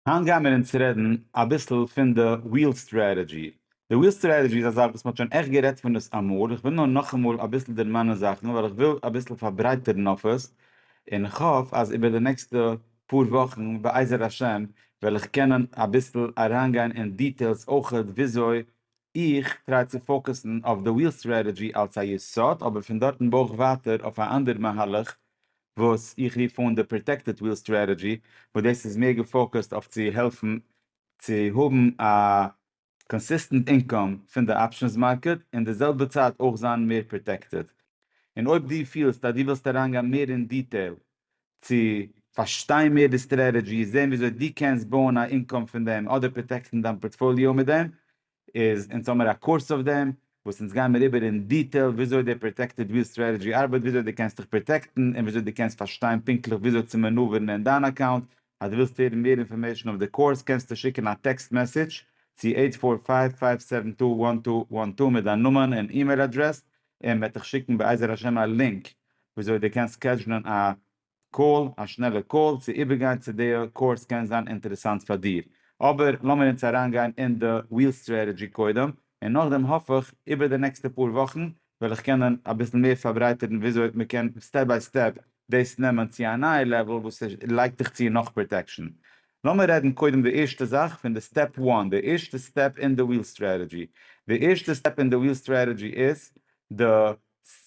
היינט גייען מיר אונז רעדן אביסל פון די וויל סטרעטעדזשי. די וויל סטרעטעדזשי איז א זאך וואס מען האט שוין עכט גערעדט פון עס אמאל, איך וויל נאר נאכאמאל אביסל דערמאנען זאכן ווייל איך וויל אביסל פארברייטערן אויף עס, און איך האף אז איבער די נעקסטע פאר וואכן בעזר השם וועל איך קענען אביסל אריינגיין אין דיטעילס אויכעט וויאזוי איך טריי צו פאוקעסן אויף די וויל סטרעטעדזשי אלס א יסוד אבער פון דארטן בויך ווייטער אויף א אנדער מהלך וואס איך רוף אן די פראטעקטעד וויל סטראטעדזשי וואס דאס איז מער געפאוקוסט אויף צו העלפן צו האבן א קאנסיסטענט אינקאם פון די אפשענס מארקעט און די זעלבע צייט אויך זיין מער פראטעקטעד און אויב דו פילסט אז דו ווילסט אריינגיין מער אין דיטעיל צו פארשטיין מער די סטראטעדזשי זען וויאזוי דו קענסט בויען א אינקאם פון דעם אדער פראטעקטן דיין פארטפאליאו מיט דעם איז אונז האמיר א קורס אויף דעם וואס אונז גיימיר איבער אין דיטעיל וויאזוי די פראטעקטעד וויל סטרעטעדזשי ארבעט וויאזוי די קענסט דיך פראטעקטן און וויאזוי די קענסט פארשטיין פונקטליך וויאזוי צו מענאווערן אין דיין אקאונט אז די ווילסט הערן מער אינפארמעישן אויף די קורס קענסטו שיקן א טעקסט מעסעדזש צו אייט פאר פייוו פייוו סעווען טו וואן טו וואן טו מיט דיין נאמען און אימעיל אדרעס און מען וועט דיך שיקן בעזר השם א לינק וויאזוי די קענסט סקעדזשלען א קאל, א שנעלע קאל צו איבערגיין צו די קורס קען זיין אינטערעסאנט פאר דיר. אבער לאמיר אונז אריינגיין אין די ריעל סטרעטעדזשי קודם, און נאכדעם האף איך איבער די נעקסטע פאר וואכן וועל איך קענען אביסל מער פארברייטערן וויאזוי מ'קען סטעפ ביי סטעפ דאס נעמען צו א נייע לעוועל וואס לייגט דיך צו נאך פראטעקשאן. לאמיר רעדן קודם די ערשטע זאך פון די סטעפ וואן, די ערשטע סטעפ אין די ריעל סטרעטעדזשי. די ערשטע סטעפ אין די ריעל סטרעטעדזשי איז די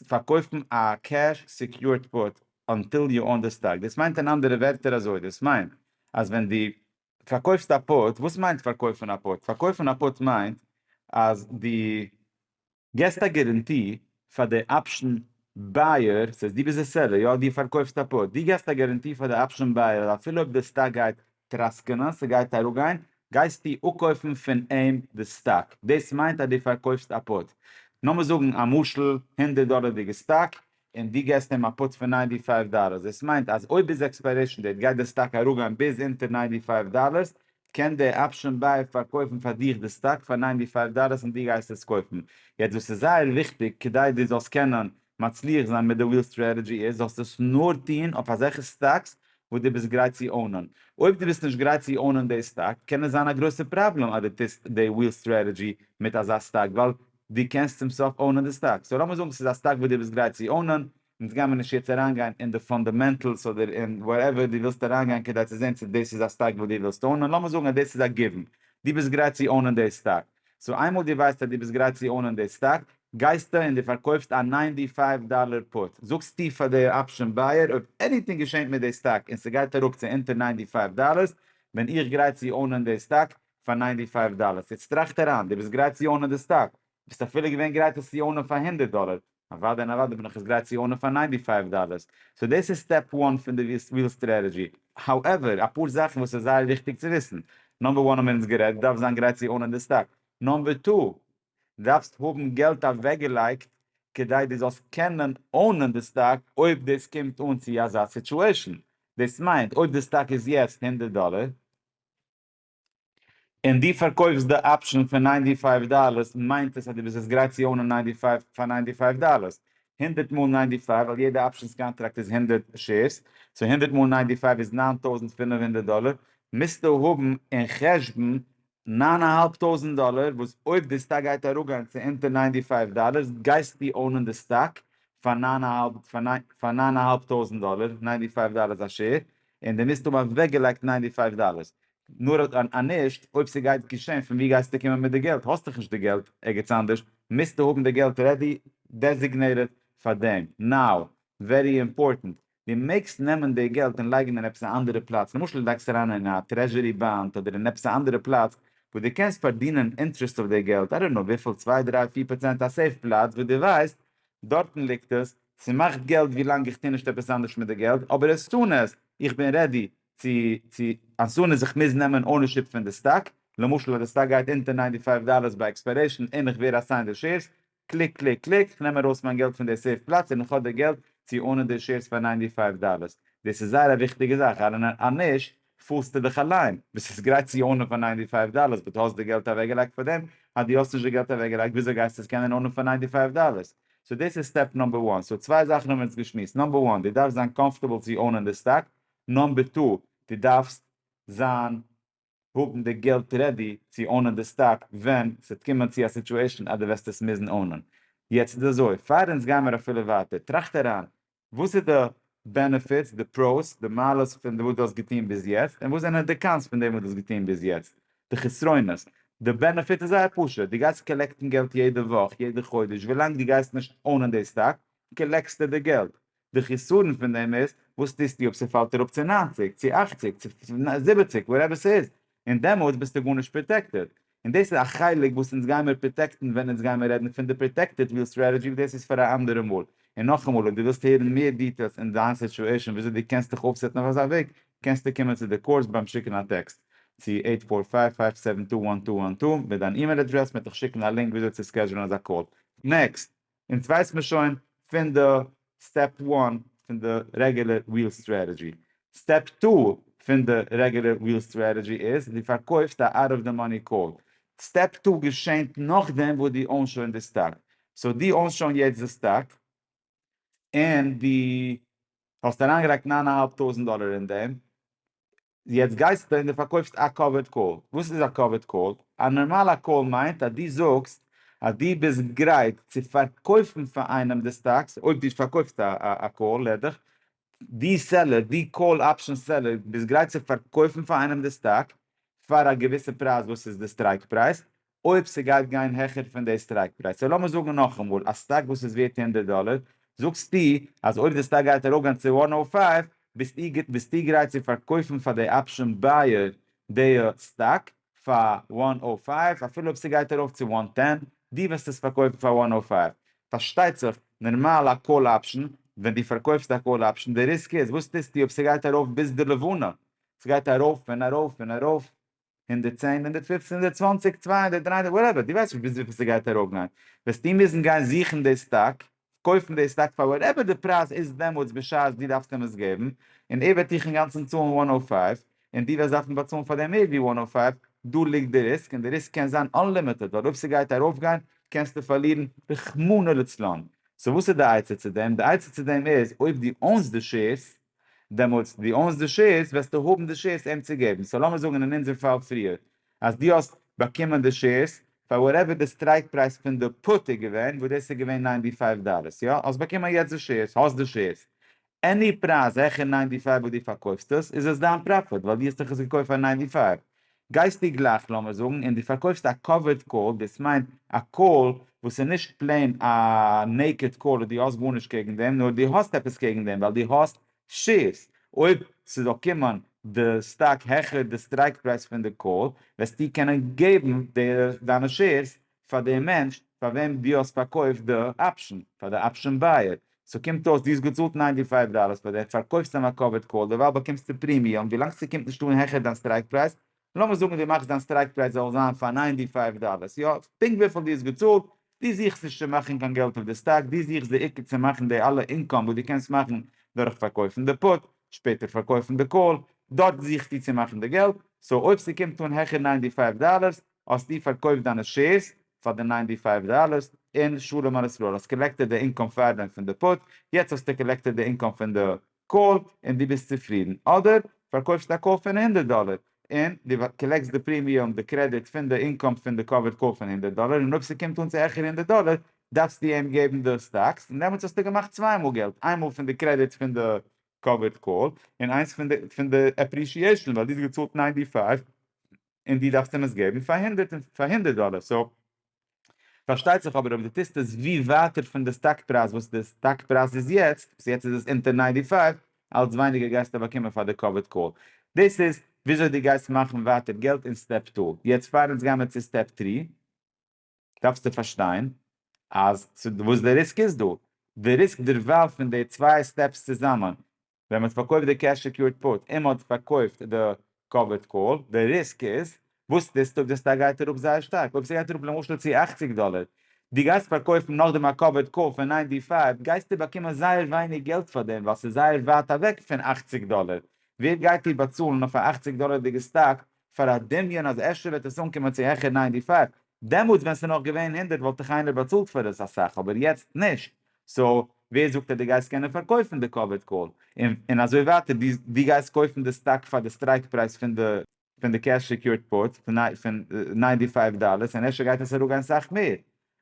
פארקויפן א קעש סעקיורד פוט אנטיל יו אן די סטאק, דאס מיינט אין אנדערע ווערטער אזוי, דאס מיינט אז ווען דו פארקויפסט א פוט, וואס מיינט פארקויפן א פוט? פארקויפן א פוט מיינט אז דו געסט א גערענטי פאר די אפשן בייער, ס'הייסט דו ביסט די סעלער, יא דו פארקויפסט א פוט, דו געסט א גערענטי פאר די אפשן בייער אז אפילו אויב די סטאק גייט טראסקענען ס'גייט אראפגיין גייסטו אפקויפן פון אים די סטאק, דאס מיינט אז דו פארקויפסט א פוט, נאמער זאגן א משל הונדערט דאלערדיגע סטאק און דו געסט אים א פוט פון ניינטי פייוו דאלערס, דאס מיינט אז אויב ביז עקספיירעישן דעיט גייט די סטאק אראפגיין ביז אונטער ניינטי פייוו דאלערס, קען דער אפשען בייער פארקויפן פאר דיך די סטאק פאר ניינטי פייוו דאלערס און דו גייסט עס קויפן, יעצט דאס איז זייער וויכטיג כדי דו זאלסט קענען מצליח זיין מיט די וויל סטרעטעדזשי איז זאלסטו עס נאר טוהן אויף אזעלכע סטאקס וואס דו ביסט גרייט צו אונען. אויב דו ביסט נישט גרייט צו אונען די סטאק קען עס זיין א גרויסע פראבלעם אז דו טוסט די וויל סטרעטעדזשי מיט אזא סטאק ווייל דו קענסט צום סוף אונען די סטאק. סאו לאמיר זאגן ס'איז א סטאק וואס דו ביסט גרייט צו אונען, אונז גיימיר נישט יעצט אריינגיין אין די פאנדעמענטעלס אדער אין וואטעווער דו ווילסט אריינגיין כדי צו זעהן צו דאס איז א סטאק וואס דו ווילסט אונען, לאמיר זאגן אז דאס איז א גיוון, דו ביסט גרייט צו אונען די סטאק. סאו איינמאל דו ווייסט אז דו ביסט גרייט צו אונען די סטאק, גייסטו און דו פארקויפסט א ניינטי פייוו דאללער פוט, זאגסטו פאר די אפשען בייער אויב עניטינג געשענט מיט די סטאק און ס'גייט אראפ צו אונטער ניינטי פייוו דאללערס בין איך גרייט צו אונען די סטאק פאר ניינטי פייוו דאללערס. יעצט טראכט אריין, דו ביסט גרייט צו אונען די סטאק, ביסט אפילו געווען גרייט עס צו אונען פאר הונדערט דאללער, אוואדע און אוואדע בין איך עס גרייט צו אונען פאר ניינטי פייוו דאללערס. סאו דאס איז סטעפ וואן פון די וויל סטרעטעדזשי. האועווער, אפאר זאכן וואס איז זייער וויכטיג צו וויסן. נאמבער וואן האמיר אונז גערעדט, דו דארפסט זיין גרייט צו אונען די סטאק. נאמבער טו, דארפסט האבן געלט אוועקגעלייגט כדי דו זאלסט קענען אונען די סטאק אויב דאס קומט אן צו אזא סיטועשן. דאס מיינט, אויב די סטאק איז יעצט הונדערט דאללער, און דו פארקויפסט די אפשען פאר ניינטי פייוו דאללערס מיינט עס אז דו ביסט עס גרייט צו אונען ניינטי פייוו פאר ניינטי פייוו דאללערס, הונדערט מאל ניינטי פייוו ווייל יעדע אפשענס קאנטראקט איז הונדערט שעירס, סאו הונדערט מאל ניינטי פייוו איז נײַן טויזנט פֿינף הונדערט דאללער, מוזטו האבן אין חשבון נײַן אהאלב טויזנט דאללער וואס אויב די סטאק גייט אראפגיין צו אונטער ניינטי פייוו דאללערס גייסטו אונען די סטאק פאר נײַן אהאלב טויזנט דאללער, ניינטי פייוו דאללערס א שעיר, און די מיזט האבן אוועק געלייגט ניינטי פייוו דאלערס, נאר א נישט אויב סגייט געשען פון ווי גייסטו קומען מיט די געלט, האסט דאך נישט די געלט ערגעץ אנדערש, מיזטו האבן די געלט רעדי דעזיגנעיטעד פאר דעם, נאו, ווערי אימפארטענט, די מעגסט נעמען די געלט און לייגן אין עפעס א אנדערע פלאץ, למשל לייגסט אריין אין א טרעזשורי באנד אדער אין עפעס א אנדערע פלאץ וואס די קענסט פארדינען אינטרעסט אויף די געלט, איי דאנט נאו וויפיל צוויי דריי פיר פראצענט א סעיף פלאץ וואס די ווייסט דארטן ליגט עס, ס'מאכט געלט ווילאנג איך טו נישט עפעס אנדערש מיט די געלט, אבער עס סאן איז איך בין רעדי צו צו עס סאן איז איך מוז נעמען אונערשיפ פון די סטאק, למשל אז די סטאק גייט אונטער ניינטי פייוו דאללערס ביי עקספיירעישן און איך ווער אסיינד די שעירס, קליק קליק קליק, כ'נעם ארויס מיין געלט פון די סעיף פלאץ און איך האב די געלט צו אונען די שעירס פאר ניינטי פייוו דאללערס, דאס איז זייער א וויכטיגע זאך, אנ א נישט פארסטו דיך אליין, ביסט גרייט צו ארנען פאר ניינטי פייוו דאללערס באט האסט די געלט אוועקגעלייגט פאר דעם, אז דו האסט נישט די געלט אוועקגעלייגט וויאזוי גייסטו עס קענען ארנען פאר ניינטי פייוו דאללערס? סאו דאס איז סטעפ נאמבער וואן, סאו צוויי זאכן האבן מיר יעצט געשמועסט, נאמבער וואן, דו דארפסט זיין קאמפארטעבל צו ארנען די סטאק, נאמבער טו, דו דארפסט זיין, האבן די געלט רעדי צו ארנען די סטאק ווען ס'וועט קומען צו א סיטואשען אז דו וועסט עס מוזן ארנען. יעצט איז אזוי, פאר אונז גיימיר אפילו ווייטער, טראכט אריין, וואס איז די בענעפיטס, די פראוס, די מעלות פון וואס דו האסט געטון ביז יעצט, און וואס זענען די קאנס פון דעם וואס דו האסט געטון ביז יעצט, די חסרונות. די בענעפיט איז זייער פשוט, דו גייסט קאלעקטן געלט יעדע וואך, יעדע חודש, ווילאנג דו גייסט נישט אונען די סטאק, קאלעקסטו די געלט. די חסרון פון דעם איז, וואס טוסטו אויב ס'פאלט אראפ צו ניינציג, צו אכציג, צו זיבעציג, וואטעווער ס'איז, און דעמאלטס ביסטו גארנישט פראטעקטעד, און דאס איז א חלק וואס אונז גיימער פראטעקטן ווען אונז גיימער רעדן פון די פראטעקטעד וויל סטרעטעדזשי אבער דאס איז פאר א אנדערע מאל. און נאכאמאל אויב דו ווילסט הערן מער דיטעילס אין דיין סיטואעישאן וויאזוי דו קענסט דיך אויפסעטן אויף אזא וועג קענסטו קומען צו די קורס ביים שיקן א טעקסט צו עיט פאר פייוו פייוו סעווען טו וואן טו וואן טו מיט דיין אימעיל אדרעס מען וועט דיך שיקן א לינק וויאזוי צו סקעדזשולן אזא קאל. נעקסט, אונז ווייסט מען שוין פון די סטעפ וואן פון די רעגולער וויל סטרעטעדזשי. סטעפ טו פון די רעגולער וויל סטרעטעדזשי איז דו פארקויפסט א אוט אוו די מאני קאל. סטעפ טו געשענט נאכדעם וואס דו אונסט שוין די סטאק. סאו דו אונסט שוין יעצט די סטאק און דו האסט אריינגעלייגט ניין אהאלב טויזענט דאלער אין דעם יעצט גייסטו און דו פארקויפסט א קאווערד קאל. וואס איז א קאווערד קאל? א נארמאלע קאל מיינט אז דו זאגסט אז דו ביסט גרייט צו פארקויפן פאר איינעם די סטאקס אויב דו פארקויפסט א קאל לעדך. דו סעלער, דו קאל אפשען סעלער ביסט גרייט צו פארקויפן פאר איינעם די סטאק פאר א געוויסע פרייז וואס איז די סטרייק פרייז אויב ס'גייט גיין העכער פון די סטרייק פרייז, סאו לאמיר זאגן נאכאמאל, א סטאק וואס איז ווערט הונדערט דאלער, זאגסטו אז אויב די סטאק גייט ארויפגיין צו וואן נאו פייוו, ביסטו ביסטו גרייט צו פארקויפן פאר די אפשען בייער די סטאק פאר וואן נאו פייוו אפילו אויב ס'גייט ארויף צו וואן טען, דו וועסט עס פארקויפן פאר וואן נאו פייוו. פארשטייט זיך, נארמאל א קאל אפשען, ווען דו פארקויפסט א קאל אפשען, די ריסק איז, וואס טוסטו אויב ס'גייט ארויף ביז די לבנה? ס'גייט ארויף און ארויף און ארויף, הונדערט צען, הונדערט פופצן, הונדערט צוואנציג, צוויי הונדערט, דריי הונדערט, וואטעווער, דו ווייסט נישט ביז וויפיל ס'גייט ארויפגיין, וועסטו מוזן גיין זוכן די סטאק, קויפן די סטאק פאר וואטעווער די פרייז איז דעמאלטס בשעת דו דארפסט אים עס געבן, און ער וועט דיך אינגאנצן צאלן וואן האלף פייוו, און דו וועסט דארפן באצאלן פאר דעם מער ווי וואן האלף פייוו, דא ליגט די ריסק, און די ריסק קען זיין אנלימיטעד, ווייל אויב ס'גייט ארויפגיין קענסטו פארלירן רחמנא לצלן. סאו וואס איז די עצה צו דעם? די עצה צו דעם איז, אויב דו אונסט די שעירס, דעמאלטס דו אוינס די שעירס וועסטו האבן די שעירס אים צו געבן, סאו לאמיר זאגן אין אונזער פאל פריער אז דו האסט באקומען די שעירס פאר וואטעווער די סטרייק פרייז פון די פוט איז געווען, וואס דאס איז געווען ניינטי פייוו דאלערס, יא? האסט באקומען יעצט די שעירס, האסט די שעירס, עני פרייז העכער ניינטי פייוו וואס דו פארקויפסט עס, איז עס דיין פראפיט ווייל דו האסט דאך עס געקויפט פאר ניינטי פייוו, גייסטו גלייך לאמיר זאגן און דו פארקויפסט א קאווערד קאל, דאס מיינט א קאל וואס איז נישט פלעין א נעיקעד קאל און דו האסט גארנישט קעגן דעם, נאר דו האסט עפעס קעגן דעם ווייל דו האסט שעירס, אויב ס'זאל קומען די סטאק העכער די סטרייק פרייז פון די קאל, וועסטו קענען געבן דיינע שעירס פאר די מענטש פאר וועם דו האסט פארקויפט די אפשען, פאר די אפשען בייער, סאו קומט אויס דו האסט געצאלט ניינטי פייוו דאללערס פאר דעם, פארקויפסט אים א קאווערד קאל, דערווייל באקומסטו פרימיום, ווילאנג ס'קומט נישט אן העכער דיין סטרייק פרייז, לאמיר זאגן דו מאכסט דיין סטרייק פרייז זאל זיין פאר ניינטי פייוו דאללערס, יא, פונקט וויפיל דו האסט געצאלט, דו זוכסט נישט צו מאכן קיין געלט אויף די סטאק, דו זוכסט די עיקר צו מאכן די אלע אינקאם וואס דו קענסט מאכן דורך פארקויפן די פוט, שפעטער פארקויפן די קאל, דארט זוכסטו צו מאכן די געלט, סאו אויב ס'קומט אן העכער ניינטי פייוו דאללערס, האסטו פארקויפט דיינע שעירס פאר די ניינטי פייוו דאללערס און שלום על ישראל, האסט קאלעקטעד די אינקאם פארדעם פון די פוט, יעצט האסטו קאלעקטעד די אינקאם פון די קאל און דו ביסט צופרידן, אדער פארקויפסט א קאל פון הונדערט דאללער און דו קאלעקסט די פרימיום, די קרעדיט, פון די אינקאם פון די קאווערד קאל פון הונדערט דאללער און אויב ס'קומט אן צו העכער הונדערט דאללער דארפסטו אים געבן די סטאקס און דעמאלטס האסטו געמאכט צוויי מאל געלט, איינמאל פון די קרעדיט פון די קאווערד קאל און איינס פון די עפרישיעישאן ווייל דו האסט געצאלט ניינטי פייוו. און דו דארפסט אים עס געבן פאר הונדערט און פאר הונדערט דאלער סאו פארשטייט זיך אבער אויב דו טוסט עס ווי ווייטער פון די סטאק פרייז וואס די סטאק פרייז איז יעצט וואס יעצט איז עס אונטער ניינטי פייוו אלץ ווייניגער גייסטו באקומען פאר די קאווערט קאל דאס איז וויאזוי דו גייסט מאכן ווייטער געלט אין סטעפ טו יעצט פאר אונז גיימער צו סטעפ טרי. דארפסטו פארשטיין אז וואס די ריסק איז דא, די ריסק דערווייל פון די צוויי סטעפס צוזאמען, ווען מ'האט פארקויפט די קעש סעקיורד פוט און מ'האט פארקויפט די קאווערד קאל, די ריסק איז, וואס טוסטו אויב די סטאק גייט אראפ זייער שטארק, אויב ס'גייט אראפ למשל צו אַכציק דאלער, דו גייסט פארקויפן נאכדעם א קאווערד קאל פון ניינטי פייוו, גייסטו באקומען זייער ווייניג געלט פאר דעם, ווייל ס'איז זייער ווייט אוועק פון אַכציק דאלער, ווער גייט דיר באצאלן אויף א אַכציק דאלערדיגע סטאק פאר א דמיון אז אפשר וועט עס אנקומען צו העכער ניינטי פייוו, דעמאלטס ווען ס'איז נאך געווען הונדערט וואלט דאך איינער באצאלט פאר עס אסאך אבער יעצט נישט, סא ווער זאגט אז דו גייסט קענען פארקויפן די קאוויד קאל און אזוי ווייטער, דו גייסט קויפן די סטאק פאר די סטרייק פרייז פון די פון די קעש סעקיורד פארט פון ניינטי פייוו דאלערס און אפשר גייט עס אראפגיין סאך מער,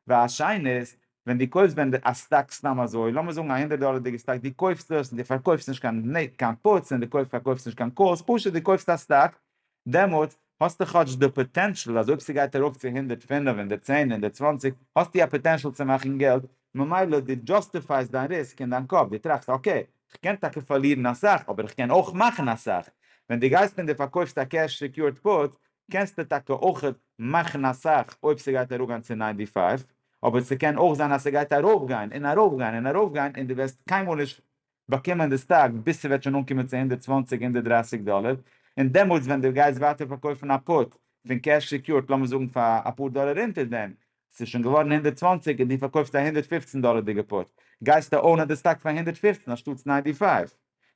והשנית, ווען דו קויפסט ווען די א סטאק סתם אזוי, לאמיר זאגן א הונדערט דאלערדיגע סטאק, דו קויפסט עס און דו פארקויפסט נישט קיין נ ק קיין פוטס און דו קויפסט פארקויפסט נישט קיין קאלס, פשוט דו קויפסט א סטאק, דעמאלטס האסטו כאטש די פאטענשאל אז אויב ס'גייט ארויף צו הונדערט פֿינף, הונדערט צען, הונדערט צוואַנציק, האסטו א פאטענשאל צו מאכן געלט, ממילא דו דזשאסטיפייסט דיין ריסק אין דיין קאפ, דו טראכסט אקעי, כ'קען טאקע פארלירן אסאך, אבער כ'קען אויך מאכן אסאך. ווען דו גייסט און דו פארקויפסט א קעש סעקיורד פוט, קענסטו טאקע אויך מאכן אסאך אויב ס'גייט אראפגיין צו ניינטי פייוו, אבער ס'קען אויך זיין אז ס'גייט ארויפגיין און ארויפגיין און ארויפגיין און דו וועסט קיינמאל נישט באקומען די סטאק ביז ס'וועט שוין אנקומען צו הונדערט צוואַנציק הונדערט דרײַסיק דאלער און דעמאלטס ווען דו גייסט ווייטער פארקויפן א פוט פון קעש סעקיורד לאמיר זאגן פאר אפאר דאלער אונטער דעם ס'איז שוין געווארן הונדערט צוואַנציק און דו פארקויפסט א הונדערט פֿופֿצן דאלערדיגע פוט גייסטו אונען די סטאק פאר הונדערט פֿופֿצן אנשטאטס ניינטי פייוו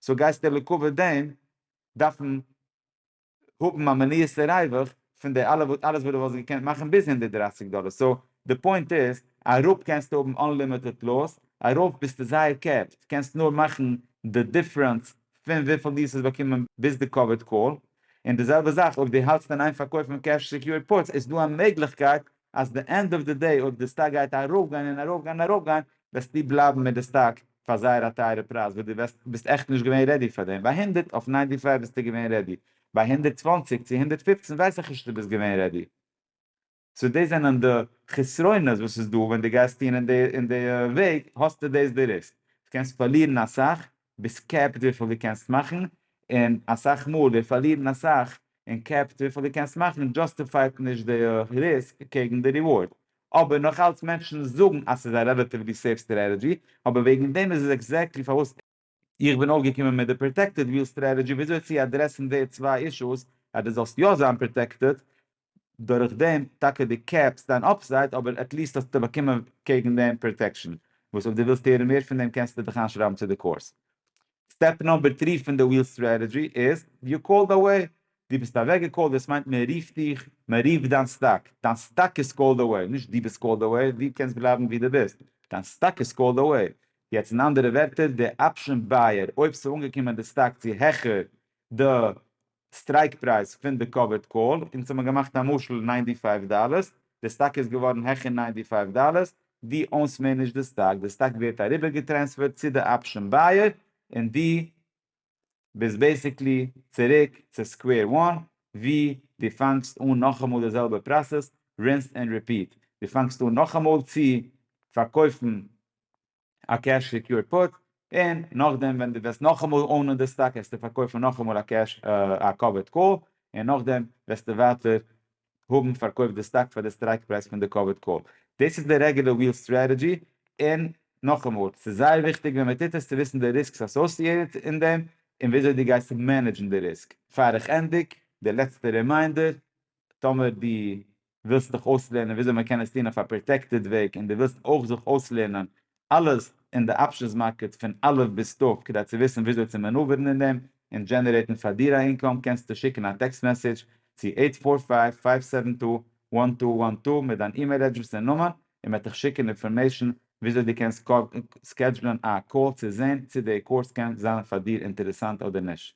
סאו גייסטו לעקאווע דעם דארפן האבן א מניעת'ע ריווח פון די אלע וואס אלעס וואס דו וואלסט געקענט מאכן ביז הונדערט דרײַסיק דאלער סאו די פוינט איז אראפ קענסטו האבן אנלימיטעד לאס ארויף ביסטו זייער קעפט קענסט נאר מאכן די דיפרענס פון וויפיל ליעס האסט באקומען ביז די קאוויד קאל און די זעלבע זאך אויב דו האלטסט אין איין פארקויפן קעש סעקיורד פוטס איז דא א מעגליכקייט אז די ענד אוו די דעי אויב די סטאק גייט ארויפגיין און ארויפגיין און ארויפגיין וועסטו בלייבן מיט די סטאק פאר זייער א טייערע פרייז וואס די וועסט ביסט עכט נישט געווען רעדי פאר דעם ביי הונדערט אויף ניינטי פייוו ביסטו געווען רעדי ביי הונדערט צוואַנציק צו הונדערט פֿופֿצן ווייס איך נישט צו די ביסט געווען רעדי סאו דאס זענען די חסרונות וואס איז דא ווען די גייסט טון אין די אין די וועג האסטו דאס די ריסק די קענסט פארלירן אסאך ביסט קעפט וויפיל דו קענסט מאכן, און אסאך מאל ווער פארלירן אסאך און קעפט וויפיל דו קענסט מאכן דזשאסטיפייט נישט די ריסק קעגן די ריווארד. אבער נאך אלץ מענטשן זאגן אז ס'איז א רעלעטיוולי סעיף סטרעטעדזשי, אבער וועגן דעם איז עס עקזעקטלי פארוואס. איך בין אויפגעקומען מיט די פראטעקטעד וויל סטרעטעדזשי וויאזוי צו אדרעסן די צוויי אישוס אז דו זאלסט יא זיין פראטעקטעד דורך דעם טאקע די קעפסט דיין אפסייד אבער עטליסט האסטו באקומען קעגן דעם פראטעקשן, וואס אויב די ווילסט הערן מער פון דעם קענסטו דיך איינשרייבן צו די קורס. סטעפ נאמבער טרי פון די וויל סטרעטעדזשי איז יו קאלד אוועי, דו ביסט אוועק געקאלט דאס מיינט מען רופט דיך, מען רופט דיין סטאק, דיין סטאק איז קאלד אוועי, נישט דו ביסט קאלד אוועי, דו קענסט בלייבן ווי דו ביסט, דיין סטאק איז קאלד אוועי, יעצט אין אנדערע ווערטער די אפשען בייער אויב ס'איז אנגעקומען די סטאק צו העכער די סטרייק פרייז פון די קאווערד קאל אונז האבן געמאכט א משל ניינטי פייוו דאללערס די סטאק איז געווארן העכער ניינטי פייוו דאללערס דו אונסט מער נישט די סטאק די סטאק ווערט אריבער געטרענספערט צו די אפשען בייער און דו ביסט בעסיקלי צוריק צו סקווער וואן ווי דו פאנגסט אן נאכאמאל די זעלבע פראסעס רינסד ענד ריפיט דו פאנגסט אן נאכאמאל צו פארקויפן א קעש סעקיורד פוט, און נאכדעם ווען דו וועסט נאכאמאל אונען די סטאק העסטו פארקויפן נאכאמאל א קעש א קאווערד קאל, און נאכדעם וועסטו ווייטער האבן פארקויפט די סטאק פאר די סטרייק פרייז פון די קאווערד קאל. דאס איז די רעגולער וויל סטרעטעדזשי, און נאכאמאל, ס'איז זייער וויכטיג ווען מ'טוט עס צו וויסן די ריסקס אסאסיעטעד אין דעם, און וויאזוי דו גייסט מענעדזשן די ריסק. פאר איך ענדיג, די לעצטע רימיינדער, טאמער דו ווילסט דיך אויסלערנען וויאזוי מען קען עס טון אויף א פראטעקטעד וועג און דו ווילסט אויך זיך אויסלערנען אלעס אין די אפשענס מארקעט פון א' ביז ת' כדי צו וויסן וויאזוי צו מענאווערן אין דעם און דזשענערעיטן פאר דיר א אינקאם קענסטו שיקן א טעקסט מעסעדזש צו עיט פאר פייוו פייוו סעווען טו וואן טו וואן טו מיט דיין אימעיל אדרעס און נאמען און מען וועט דיך שיקן אינפארמעישן וויאזוי דו קענסט סקעדזשלען א קאל צו זען צי די קורס קען זיין פאר דיר אינטערעסאנט אדער נישט.